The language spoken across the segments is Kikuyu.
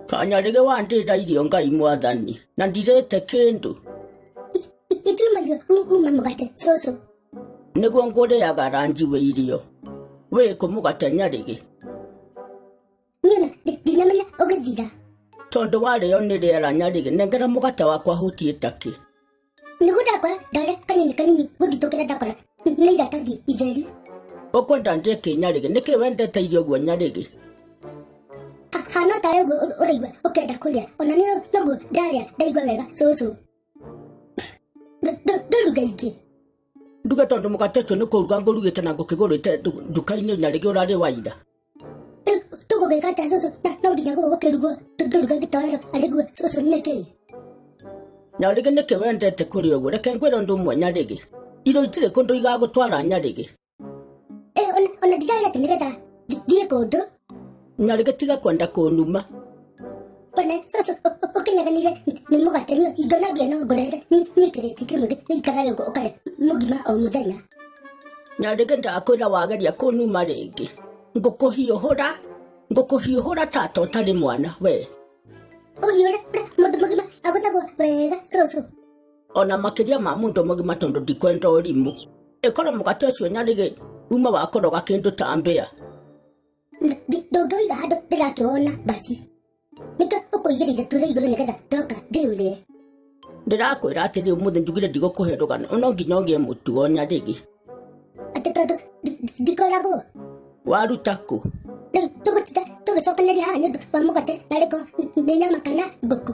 kanyarĩge wandĩta irio ngai mwathani na ndirĩte kĩndũ Itimbayo, numa mugate, soso. nĩguo ngũrĩaga ranji wĩ irio wĩkũ mũgate nyarĩge Nyona, ndi- ndinamenya ũgĩthira. tondũ warĩo nĩ rĩera nyarĩgĩ nengera mũgate wakwa hutie takĩ Nĩguo ndakora ndare kanini kanini gũthitũkĩra ndakora nĩ iratathi itheri. ũkwenda ndĩe kĩ nyarĩgĩ nĩkĩ wendete irio ũguo nyarĩgĩ Ha- Hana ta ũguo ũr- ũraigua ũkenda kũrĩa. Ona niĩ noguo ndarĩa ndaigua wega cũcũ. Ndũ- ndũ- Ndũruga ingĩ. nduge tondũ mũgate ũcio nĩ kũruga ngũrugĩte na ngũkĩgũrĩte ndu- nduka-inĩ nyarĩgĩ ũrarĩ waira Tuko kwenye kata ya Soso na na udinya kwa wake rugo. Tuko kwenye kata ya alikuwa Soso neke. na rĩngĩ nĩkĩ wendete kũrĩ ũguo reke ngwĩra ũndũ ũmwe nyarĩgĩ irio itirĩ kũndũ igagũtwara nyarĩgĩ Eh, ona ona dijaya tinireta. Diye kodo. nyarĩgĩ tiga kwenda kũnuma bana soso okenyaga niga nimũgwatanio ingona mbia no ngũrere nyĩkĩrĩte kĩmũthĩ ikaraga ũguo ũkarĩa mũgima o mũthenya na rĩngĩ ndakwĩra wageria kũnuma rĩngĩ ngũkũhiũhũra ngũkũhiũhũra tata ũtarĩ mwana we ũhiũre mũndũ mũgima agũthagwo wega soso ona makĩria ma mũndũ mũgima tondũ ndikwenda ũrimũ ĩkorwo mũgate ũcio nyarĩgĩ uma wakoroga kĩndũ ta mbĩa ndũngĩwĩiga handũ ndĩrakĩwona basi nĩkĩo ũkũigĩra ithatũ rĩa igũrũ nĩgetha ndoka ndĩũrĩre ndĩrakwĩra atĩrĩ ũmũthĩ njugire ndigũkũhe rũgano no nginya ũgĩe mũtugo nyarĩgĩ atĩ tondũ ndi- ndi- ndikoragwo waruta kũ rĩu tũgũtinda tũgĩcokanĩria haha nĩ ũndũ wa mũgate na rĩko nĩ nyama kana ngũkũ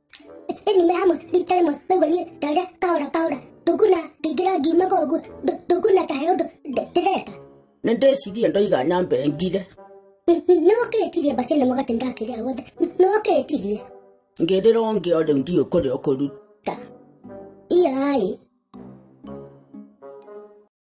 nimehama nditare mwe rĩu niĩ ndare taora taora ndũnguna ndingĩra ngiuma koguo ndũnguna tahe ũndũ ndĩreka nĩ ndĩcirie ndoiga nyambe ngire nĩwakĩtirie mbaci nĩ mũgate ndakĩrĩa guothe nĩwakĩtirie ngĩrĩra ũngĩ o rĩu ndiũ kũrĩa ũkũruta iyaĩ